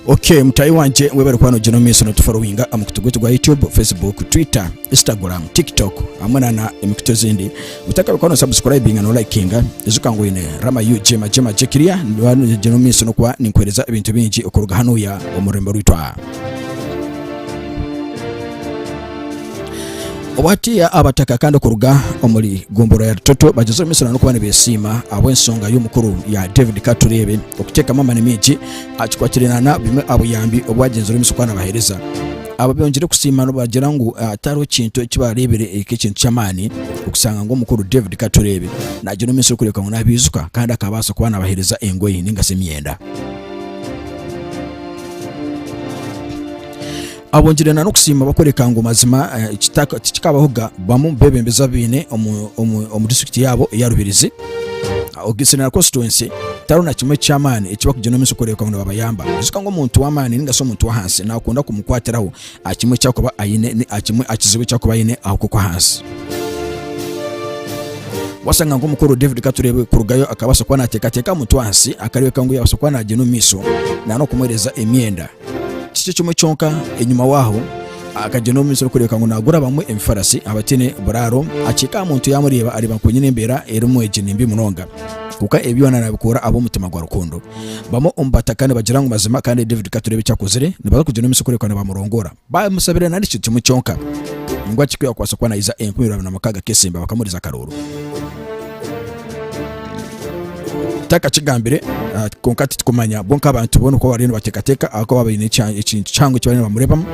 Ok mutaahi wangye webare kuba nogyenda omu maiso notuforowinga aha mukutu gwaitu gwa YouTube, Facebook, Twitter, Instagram, Tiktok hamwe na na emikutu ezindi. Otakaba kuba no subscribinga no likinga ijuka ngu oyine Rama UG magye magye kiriya noba nogyenda omu maiso nokuba ninkuhereza ebintu bingi okuruga hanuya omu rurembo rwaitu aha. Obwatiya abataka kandi okuruga omuri gombora ya Rutoto bagyezeho emisana n'okuba nibesiima ahabw'ensonga y'omukuru ya David Katureebe okutekamu amani mingi akikwatire nana bimwe abuyambi obwagyenzire omu maisho kuba nabahereza aba byongyire kusiima nibagira ngu tihariho ekintu ekibarebire nk'ekintu ky'amani okusanga ngu omukuru David Katureebe nagyenda omu maisho kurebeka ngu nabijuka kandi akabaasa kuba nabahereza engoyi ningashi emyenda. Abongire na n'okusiima bakworeka ngu mazima eki tikikabaho ga bamu bebembezi abaine omu district yaabo eya Rubirizi, Ogisiri na constituency tihariho na kimwe eky'amaani eki bakugira omu maisho kworeka ngu nibabayamba. Ijuka ngu omuntu w'amaani ninga shi omuntu w'ahansi nakunda kumukwatiraho aha kimwe eki akuba aine ni aha kimwe aha kizibu eki akuba aine aho kukwo ahansi. Wasanga nka omukuru David Katureebe kurugayo akabasa kuba natekateka aha muntu w'ahansi akarebeka ngu yabasa kuba nagyenda omu maisho na n'okumuhereza emyenda. Kikye kimwe kyonka enyima waho akagyenda omu misiri kureebeka ngu naagura abamwe ebifarasi abataine buraaro, akiika aha muntu yaamureeba areeba ngu kwenyini embeera erimu egi ni mbi munonga. Kwonka ebi byona naabikoora ahabw'omutima gwa rukundo. Bamwe omu bataka nibagira ngu mazima kandi David katureebe eki akozire, nibaza kugyenda omu misiri kureebeka nibamurongoora. Baamusabira nari kintu kimwe kyonka ngu aki ku yaakubaasa kuba naija enkumirabiri na mukaaga k'esimba bakamuhuriza akarooro. Takakigambire, ah, kwonka titukumanya. Bo nk'abantu boona uko bariyo nibateekateeka ahakuba baine ekya- ekintu kihango eki bariyo nibamureebamu,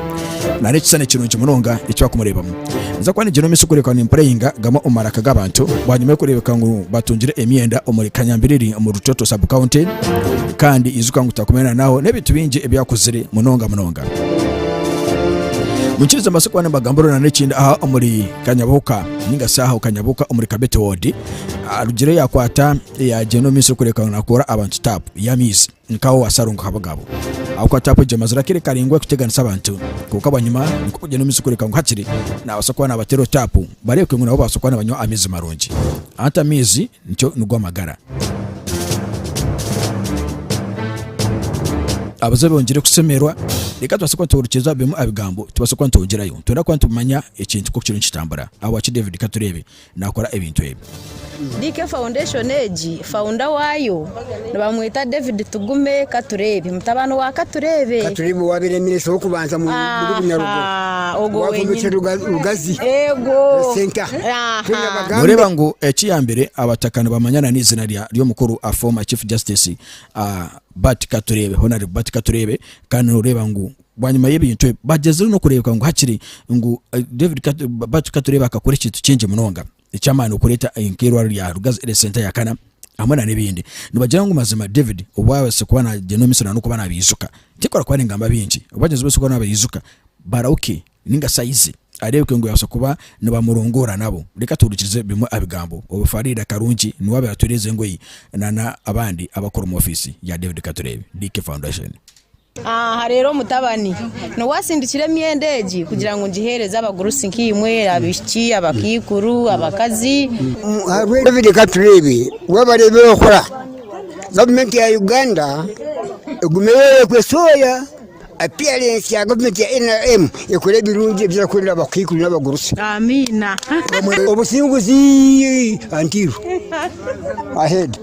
nari ekishushani kirungi munonga eki bakumureebamu. Ninza kuba niigira omu maisho kureebeka ngu nimpureyinga gamwe omu maraka g'abantu, bwanyima y'okureebeka ngu batungire emyenda omuri Kanyambiriri omu Rutoto Sub County, kandi ijuka ngu tutakumire na n'aho n'ebintu bingi ebi akuzire munonga munonga. Munkirize mbaase kuba nimbagambira orurana ekindi aha omuri Kanyabuhuka. Ninga shi aha okanyabuka omuri kabete wodi arugire yakwata yagyenda omu maiso kureka ngu nakoora abantu tapu y'amaizi nka owa Sarongo Habagabo ahabw'okuba tapu egyo emazire akire karaingwa ekuteganisa abantu kwonka bwanyima nikwo kugyenda omu maiso kureka ngu hakiri nabasa kuba nabatera otapu barebeke ngu nabo babasa kuba nibanywa amaizi marungi. Hati amaizi Nikyo nigwo amagara. Abazabi bongire kushemerwa. Reka tubaase kuba nitworukyeza bimwe aha bigambo tubaase kuba nitwongyerayo. Nitwenda kuba nitumanya ekintu nk'oku kiriyo nikitambura. Ahabwaki David, ka tureebe, naakora ebintu ebi? DK Foundation egi, founder waayo, Nibamweta David Tugume Katureebe, mutabani wa Katureebe. Katureebe owaabaire minisita w'okubanza muri Bunyarugo, owakombekire Rugazi Centre. Nooreeba ngu ekiyambire Abataka nibamanya na n'eizina ry'omukuru a former Chief Justice Bart Katureebe, Honarable Bart Katureebe. Kandi nooreeba ngu bwanyima y'ebintu ebi bagyezire n'okureebeka ngu hakiri ngu David Bart Katureebe akakora ekintu kingi munonga. eky'amaani okureeta nk'eirwariro rya Rugazi erye senta ya kana hamwe na n'ebindi nibagira ngu mazima David obu abaase kuba nagyenda omu misiri na n'okuba nabiijuka tikora kuba ningamba bingi obu bagyenzi bose kuba nabiijuka barahuke ninga shi aize areebeke ngu yabaasa kuba nibamurongora nabo reka tuhurikize bimwe aha bigambo obu Faridah Karungi niwe abaire atwereeza engoyi na n'abandi abakora omu office ya David Katureebe DK Foundation. Aha reero omutabani niwe asindikire emyenda egi kugira ngu ngiheereze abagurusi nk'eimwe, abaishiki, abakaikuru, abakazi. Ahabw'ebyo reka tureebe wabareeba ebi orikukora. Gavumenti ya Uganda egume eyorekwe sooya apiyarensi ya gavumenti ya nrm ekore ebirungi ebi erikukorera abakaikuru n'abagurusi. Amiina. Obusinguzi Antiru. Aheedi.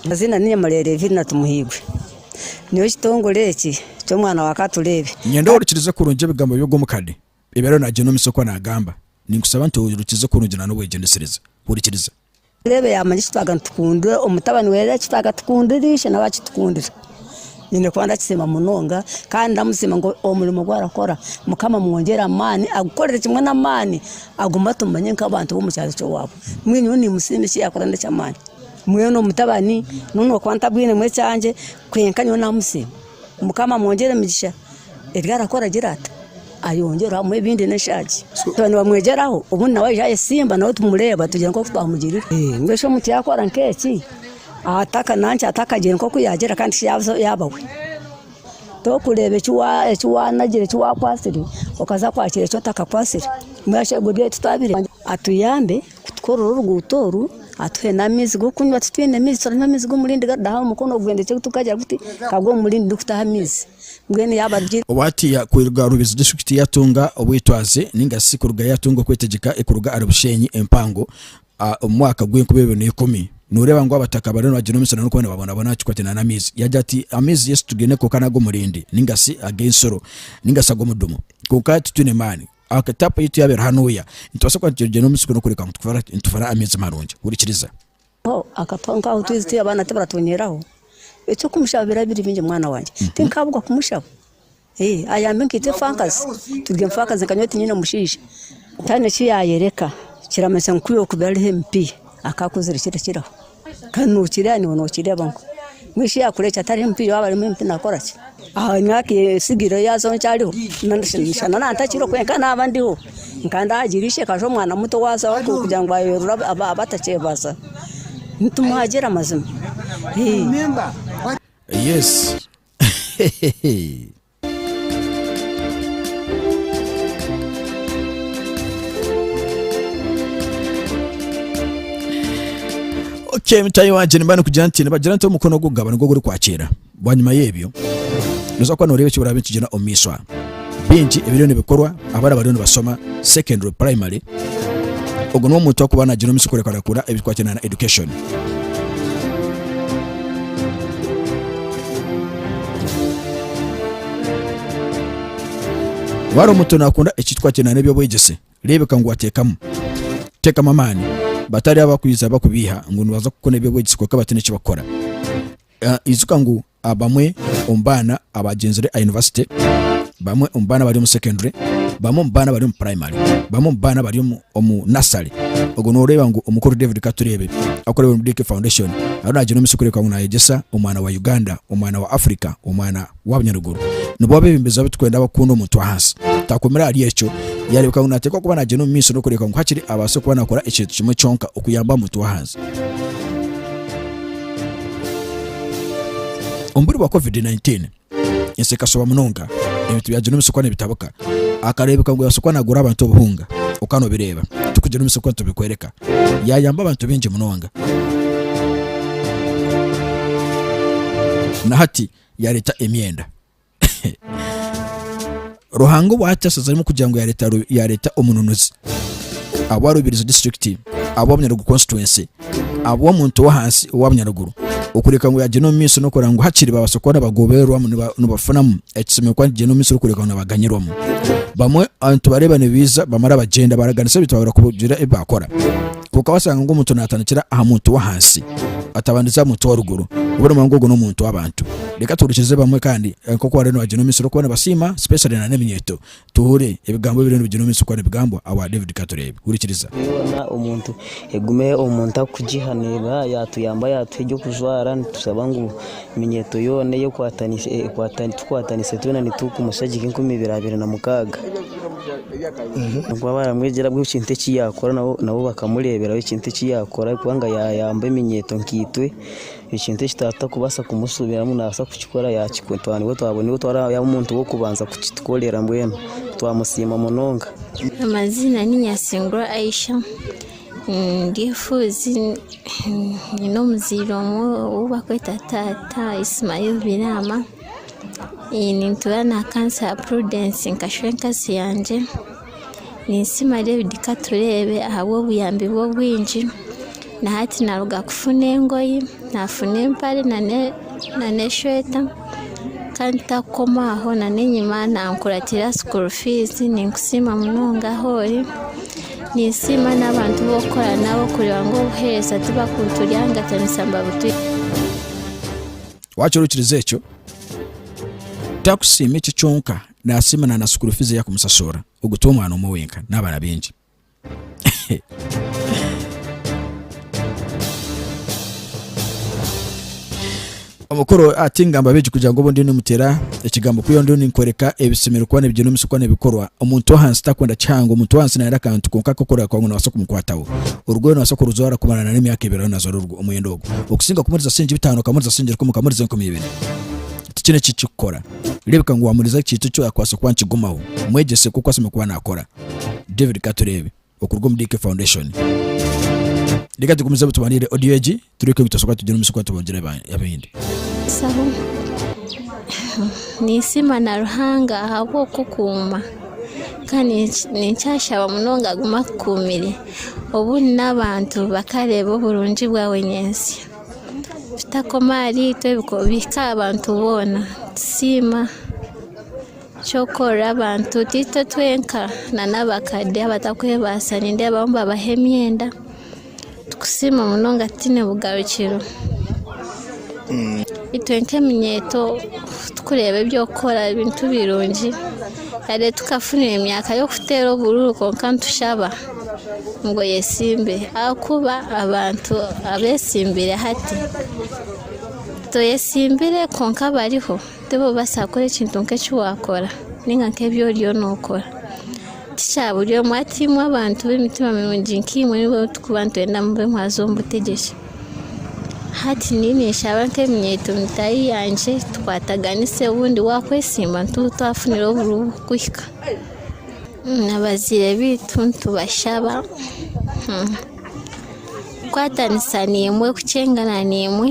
Amazina ni Nyamulere Evirina Tumuhirwe. Nyowe ekitongore eki ky'omwana wa Katureebe. Niinyenda ohurikirize kurungi ebigambo by'ogw'omukade ebi ariyo naagira omu isokwa naagamba. Ninkusaba nti ohurikirize kurungi na n'obwegyendesereza. Hurikiriza. Katureebe yaamanya eki twaaga nitukundire omutabani we reero eki twaaga tukundire ishe nawe akitukundira. Nyine kuba ndakisiima munonga kandi ndamusiima ngu omurimo ogu arakora Mukama amwongyere amaani agukorere kimwe n'amaani agume atumanye nk'abantu b'omu kyaro ky'owaabo. Mbwenu nyowe nimusiima eki yaakora n'eky'amaani. Mbwenu omutabani nu n'okuba ntabwinemu ekyangye kwenka nyowe namusiima. Mukama amwongyere emigisha ebi arakora agire ata ayongyere amuhe ebindi n'eshaagi. Twaba nibamwegyeraho obundi nawe aije ayesimba nawe tumureeba tugire nk'oku twamugirire. Mbwenu shi omuntu yaakora nk'eki ataka nankyo atakagire nk'oku yaagira kandi shi yaabuza yaaba we? Torikureeba eki wa eki waanagire eki waakwatsire okaza kwakira eki otakakwatsire. Mbwenu asherwe ebyo ebi tutabireeba atuyambe. kutukorera oruguuto oru atuhe n'amaizi g'okunywa titwine maizi turaha amaizi g'omurindi garidaho aha mukono ogwendekye gu tukagira guti kagwe omu murindi turikutaho amaizi mbwenu yaaba ari Owaatiya kwiruga Rubezi disiturikiti yaatunga obwetwaze nainga shi kurugayo yaatunga okwetegyeka kuruga ahari Bushenyi empango omu mwaka gw'enkumi ibiri na ikumi nooreeba ngu abataka bariyo nibagira omusiri nari kubonabona boona boona kikwataine n'amaizi. Yaagira ati, Amaizi yaitu tugaine kwonka n'ag'omurindi nainga shi ag'ensoro nainga shi ag'omudumo kwonka titwine maani. Aha ka taapu yaitu yaaba eri hanuuya, nitubaasa kuba nitugyenda omu musiri kureka ngu nitufara amaizi marungi. Hurikiriza. Ho akatwaho nk'aho twaizi turi abaana tibaratunyeraho, eky'okumushaba biraba biri bingi mwana wangye. Tinkaabugwa kumushaba. Ee, ayambe nkaitwe faakazi, turi enfaakazi nka nyowe tinyine mushaija. Ntaine ki yaayereka, kiramanyisa ngu ku yaaba ari haihi empi, akaakozire kirakiraho. Kandi nokireeba niwe nokireeba ngu mbwenu shi yakurekya tariho empiiya waaba arimu empi nakoraki? Aha myaka etsigaireho yaaza nkyariho, nashana na ntakiriho kwonka naaba ndiho nka ndaagira ishe akaza omwana muto waazaho kugira ngu ayerure abe atakyebaza, nitumuhagira mazima. Ii. Okay, mutayi wangye nimba nikugira nti nibagira nti omukono ogugaba nigwo gurikwakira bwanyima y'ebyo noza kuba noreeba eki birabe nikigyenda omu maisho aha bingi ebiriyo nibikorwa abaana bariyo nibashoma secondary primary ogu n'omuntu akuba nagira omu maisho kureekurakura ebirikwatiraine na education Waaba omuntu naakunda ekitwa kye n'eby'obwegyese, reebeka ngu wateekamu. Teekamu amaani. Batariho abakwija bakubiiha ngu nibaza kukora eby'obwegyese kwonka bataine eki bakukora. Ijuka ngu Abamwe omu baana abagyenzire aha yunivasite, bamwe omu baana abari omu secondary, bamwe omu baana abari omu primary, bamwe omu baana abari omu omu nursery. Ogwo nooreeba ngu omukuru David Katureebe arikureebera omuri DK Foundation ariyo naagira omu tsiko kureka ngu naayegyesa omwana wa Uganda, omwana wa Africa, omwana wa bunyaruguru. Nibo abeebembezi abu turikwenda abakukunda omuntu ahansi. Taakomire ahari ekyo, yaareebeka ngu naateekwa kuba naagyenda omu maisho n'okureebeka ngu hakiri abaase kuba naakora ekintu kimwe kyonka okuyamba omuntu w'ahansi. Omu biro bwa covid 19 ensi ekashuba munonga, ebintu byagyenda omu isokwe nibitabuka. Akareebeka ngu yaasokwa naagura abantu obuhunga. Okaba noobireeba, tikugira omu isokwe nitubikworeka. Yaayamba abantu baingi munonga. Na hati yaareeta emyenda. ruhanga obu akyashazire arimu kugira ngu yareeta Ru- yareeta omununuzi awa rubirizi disiturikiti awa bunyarugu constituency awa omuntu owahansi owa bunyaruguru okureka ngu yagyenda omu maisho nokureba ngu hakiri babaasa kuba nibagobererwamu niba- nibafunamu ekisemere kuba nikigyenda omu maisho orikureka ngu nibaganyirwamu bamwe abantu bareeba nibiija bamara bagyenda baraganisa ebintu baahurira kugira ebi baakora Kwonka waashanga ngu omuntu naatandikira aha muntu w'ahansi atabandise aha muntu w'oruguru, obwo noomanya ngu ogwo n'omuntu w'abantu. Reka tuhurikize bamwe kandi nk'oku bariyo nibagira omu misiri okuba nibasiima especially na n'eminyeeto. Tuhure ebigambo ebiriyo nibigyirwa omu misiri okuba nibigambwa abwa David. Ka tureebe. Hurikiriza. Yoona omuntu, egume omuntu akugiha. Neeba yaatuyamba yaatuha eby'okujwara, nitushaba ngu Eminyeeto yoona ei tukwatanise twena nitukumusha gye nk'enkumi ibiri abiri na mukaaga. Nikwo baaramwegyera buri kintu eki yaakora nabo bakamureeberaho ekintu eki yaakora ahabw'okuba yaayamba eminyeeto nkaitwe. Ekintu eki twaba tutakubaasa kumushuubiramu naabaasa kukikora yaakikora. Twaba nibwo twaba yaaba omuntu w'okubanza kukitukorera mbwenu twamusiima munonga. Amazina ni Nyasingura Aisha. Ndi efuuzi nyine omuzaire omwe ou barikweta taata Ismael Byarama nintuura na kansa ya Prudence nkashusha enkazi yangye ninsima David Katureebe ahabw'obuyambi bwe obwingi na hati naruga kufuna engoye nafuna empare na n'eshweta kandi tarikukoma aho na n'enyima nankuratira school fees ninkusiima munonga ahu ori. Ninsiima n'abantu bu okukora nabo kureeba ngu obuheereza tibakubuturyangatanisa babutu. Waakira okirize ekyo? Takusiima ekyo kyonka, naasiima na na sukuuru fiizi ei arikumusashuurira, ogwo ti omwana omwe wenka, n'abaana baingi. Omukuru ati, Ngamba abeegi kugira ngu obu ndiyo nimuteera ekigambo kwihaho ndiyo ninkworeka ebisemeriire kuba nibigyendwa omu isokwe nibikorwa. Omuntu w'ahansi takwenda kihango. Omuntu w'ahansi nayenda akantu konka ak'okureeba kuba ngu noobaasa kumukwataho. Orugoye noobaasa kurujwara kumara na n'emyaka ebiri reero naajwara orwo omwenda ogwo. Okusinga kumuriza singye bitaano okamuriza singye rukumi okamuriza enkumi ibiri tikiine eki kikukora. Reebeka ngu waamuriza ekintu eki akwatsire kuba nikigumaho. Mwegyese nk'oku asemeriire kuba naakora. David Katureebe. okuruga omu DK Foundation. Reka tugumize obu tubandiire audio egi tureke bitoshoboka tugire omu isiko tubongere aba- abahindi. Saho. Ninsiima na Ruhanga ahabw'okukuuma kandi ninki- ninkyashaba munonga agume akukuumire obu n'abantu bakareeba oburungi bwawe nyentsya. Bitakoma ahariitwe biko- bihike aha bantu boona. Nitusiima. Ky'okorwa abantu tiitwe twenka na n'abakade abatakwebaasa nindeebaho nibabaha emyenda tukusiima munonga tutaine bugarukiro. Itwe nk'eminyeeto tukureeba eby'okukora ebintu birungi yade tukafunire emyaka y'okuteera oburuuru kwonka nitushaba ngu eyesimbe ahakuba abantu abetsimbire hati toyesimbire kwonka bariho. Tibaba nibabaasa kukora ekintu nk'eki waakora nainga nk'ebi oriyo nookora. Ti kya buri omwe ati imwe abantu b'emitima mirungi nk'imwe nibo turikuba nitwenda mube mwaza omu butegyeki. Hati nyowe ninshaba nk'eminyeeto mitaahi yangye tukwataganise obundi waakwesiima nituba twafunire oburi kuhika. Na baziire baitu nitubashaba kukwatanisa naimwe, kukyengana naimwe.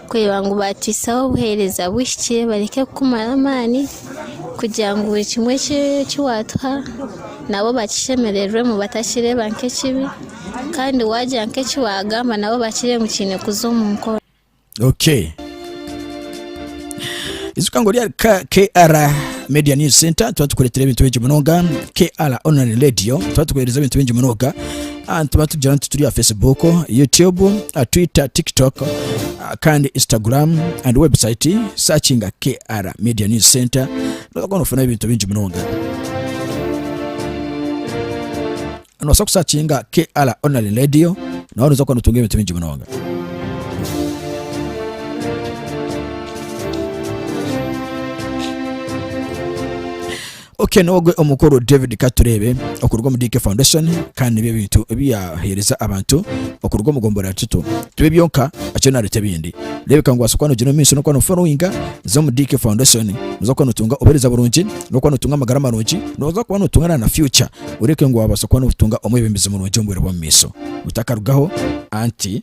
kureba ngu baataisaho obuheereza buhikire bareke kukumara amaani kugira ngu buri kimwe eki waatuha nabo bakishemererwemu batakireeba nk'ekibi kandi waagira nk'eki waagamba nabo bakireebe ngu kiine kuza omu nkoro. Okay. ijuka ngu ryari ka kr media news center tuba tukureetera ebintu bingi munonga kr online radio tuba tukuheereza ebintu bingi munonga Ah, nitubatugira nti turi aha Facebook, YouTube, ah, Twitter, TikTok ah, kandi Instagram and website searchinga KR Media News Center nozoka nofuna ebintu bingi munonga nobaasa kusakinga KR Online Radio nawe noza kuba notunga ebintu bingi munonga Okay nogwe omukuru David katureebe okuruga omu DK Foundation kandi nibyo ebintu ebi yaheereza abantu okuruga omu gombora ya Kito tibyo byonka akiriyo nareeta ebindi rebeka ngu waasa kuba nogyenda omu maisho nokuba no followinga za omu DK Foundation noza kuba notunga obuhereza burungi nokuba notunga amagara marungi noza kuba notunga na na future oreebeke ngu wabaasa kuba notunga omwebembezi murungi omu bwire bw'omu maisho otakarugaho anti